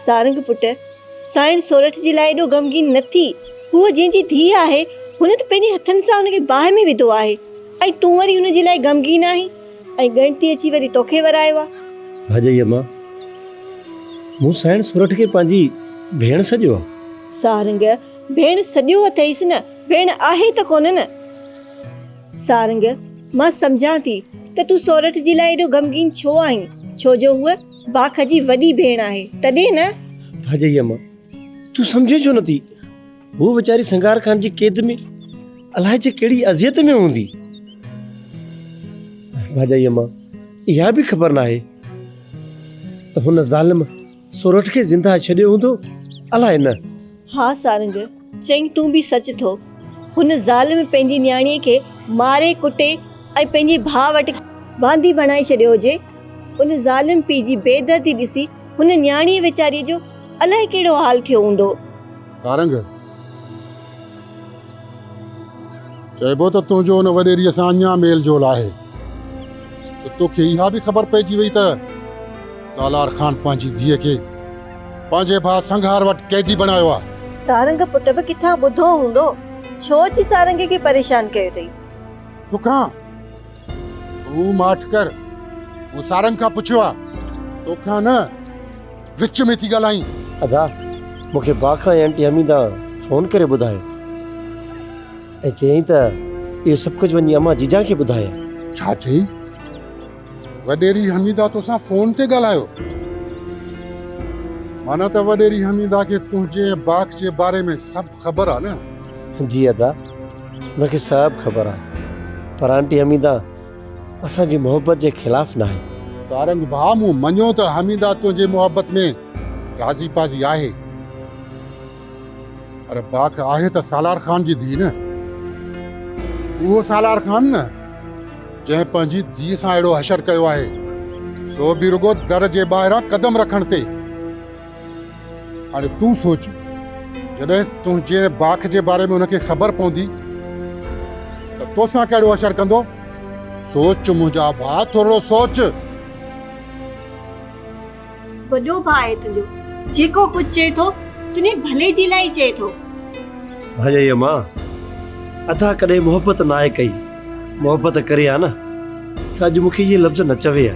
سارنگ پٽ، سائڻ سورٺ جي لاء ايڏو غمگين نه ٿي. هوء جنهن جي ڌيء آهي، هن ته پنهنجي هٿن سان ان کي باهه ۾ وڌو آهي ۽ تون وري ان جي لاء غمگين آهين ۽ ڳڻتي اچي وري توکي ورايو آهي. ڀاڄائي امان، مون سائڻ سورٺ کي پنهنجي ڀيڻ سڏيو آهي. سارنگ، ڀيڻ سڏيو اٿئيس نه، ڀيڻ آهي ته ڪونه نه. سارنگ، مان سمجهان ٿي ته تون سورٺ جي لاء ايڏو غمگين ڇو آهين، ڇو جو هوء. باک جي وڏي ڀيڻ آهي تڏهن نه. ڀاڄئي اما تون سمجهين ڇو نٿي هوء ويچاري سنگار خان جي قيد ۾ الائي جي ڪهڙي اذيت ۾ هوندي. ڀاڄئي اما اها به خبر ناهي ته هن ظالم سورٺ کي زنده ڇڏيو هوندو الائي نه. ها سارنگ! چيائين تون به سچ ٿو. هن ظالم پنهنجي نياڻيء کي ماري ڪٽي ۽ پنهنجي ڀاء وٽ باندي بڻائي ڇڏيو هجي. ان ظالم پيء جي بي دردي ڏسي هن نياڻيء ويچاريء جو الائي ڪهڙو حال ٿيو هوندو. سارنگ! چئبو ته تنهنجو ان وڏيريء سان اڃا ميل جول آهي ته تو کي اها به خبر پئجي وئي ته سالار خان پنهنجي ڌيء کي پنهنجي ڀاء سنگهار وٽ قيدي بڻايو آهي. سارنگ پٽ به ڪٿان ٻڌو هوندو، ڇو اچي سارنگي کي پريشان ڪيو اٿئي. تو کان هو ماٺ ڪر، مون سارنگ کان پڇيو آ، توکان نه، وچ ۾ ٿي ڳالهائين. ادا، مون کي باغ کان ئي آنٽي حميده فون ڪري ٻڌايو ۽ چيائين ته اهو سڀ ڪجهه وڃي امان جيجان کي ٻڌايا. ڇا چيئي؟ وڏيري حميده توسان فون تي ڳالهايو؟ معنيٰ ته وڏيري حميده کي تنهنجي ۽ باغ جي باري ۾ سڀ خبر آ نه. جي ادا ان کي سڀ خبر آ پر آنٽي حميده اسان جي محبت جي خلاف ناهي. سارنگ ڀاء مون مڃيو ته حميده تنهنجي محبت ۾ راضي پاضي آهي پر باک آهي ته سالار خان جي ڌيء نه. اهو سالار خان نه جنهن پنهنجي ڌيء سان اهڙو حشر ڪيو آهي سو به رڳو در جي ٻاهران قدم رکڻ تي. هاڻي تون سوچ، جڏهن تنهنجي ۽ باک جي باري ۾ هن کي خبر پوندي ته توسان ڪهڙو حشر ڪندو. سوچ منهنجا ڀاء، ٿورڙو سوچ. وڏو ڀاء آهي تنهنجو، جيڪو ڪجهه چئي ٿو، تنهنجي ڀلي جي لاء ئي چئي ٿو. ڀاڄائيء مان، ادا ڪڏهن محبت ناهي ڪئي، محبت ڪري ها نه ته اڄ مون کي اهي لفظ نه چوي ها.